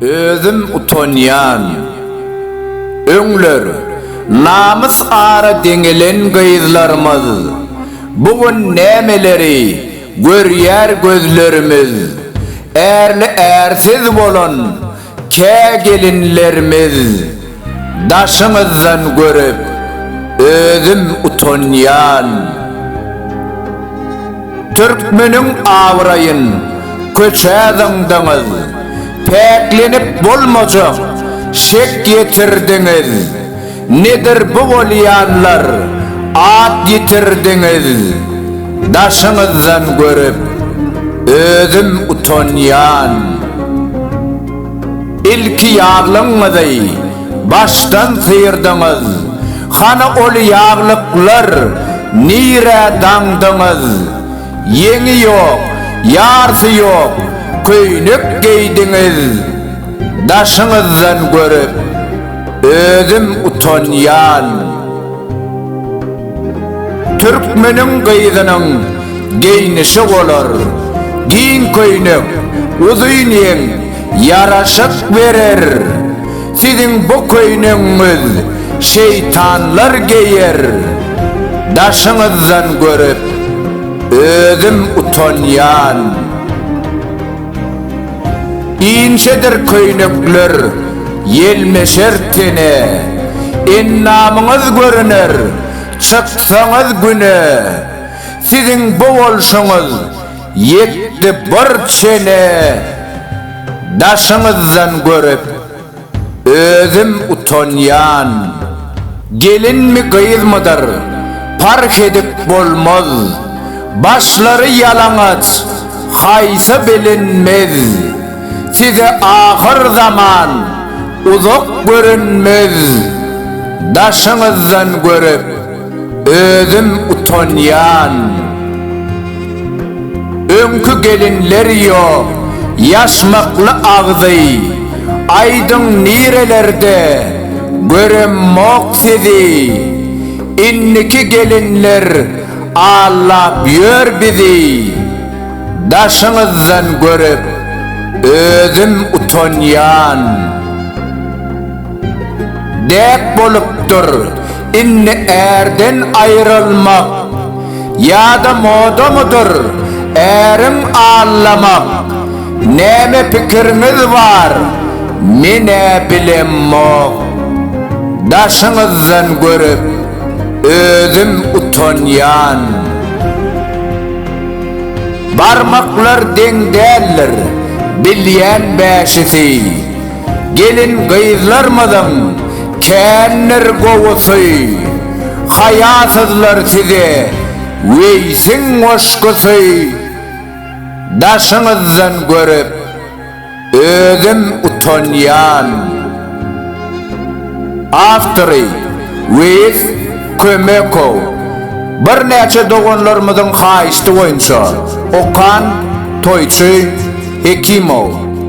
Özüm utanýan. Öňler namys ara deňelen gyzlarymyz, bu gün nämeleri görýär gözlerimiz, ärli-ärsiz bolan, Kä gelinlerimiz daşyňyzdan görüp özüm utanýan. Türkmeniň abraýyn köçä zyňdyňyz, päklenip bolmajak şek ýetirdiňiz. Nedir bu bolýanlar, at ýitirdiňiz, daşyňyzdan görüp, özüm utanýan. Ilki ýaglygyňyzy başdan syrdyňyz, hany ol ýaglyklar nirä daňdyňyz, ýeňi ýok, ýarsy ýok köýnek geýdiňiz, daşyňyzdan görüp, Özüm utanýan. Türkmeniň gyzynyň geýnişi bolar, giň köýnek, uzyn ýeň, ýaraşyk berer. Siziň bu köýnegiňiz şeýtanlar geýer. Daşyňyzdan görüp, özüm utanýan. Inçedir köýnekler ýelmeşer tene, Endamyňyz görüner, çyksaňyz güne. Siziň bu bolşuňyz ýetdi bir çene, Daşyňyzdan görüp, Özüm utanýan. Gelinmi gyzmydyr, parh edip bolmaz. Başlary ýalaňaç, haýsy bilinmez. Size ahyr zaman uzak görünmez. Daşyňyzdan görüp. Özüm utanýan. Öňki gelinler ýok. Ýaşmakly agzy. Aýdyň nirelerde. Göremmok sizi. Indiki gelinler allap ýör bizi. Daşyňyzdan görüp özüm utanýan. Däp bolupdyr. Indi ärden aýrylmak ýa-da modamydyr äriň allamak näme pikiriňiz bar menä bilemok daşyňyzdan görüp özüm utanýan barmaklar deň däldir bilýän bäşisi Gelin-gyzlarmyzyň kändir gowusy, haýasyzlar size Weýsiň goşgusy Daşyňyzdan görüp, özüm utanýan. Awtory, Weýis Kömekow. Birnäçe doganlarymyzyň haýyşdy boýunça okan toýçy Hekimow.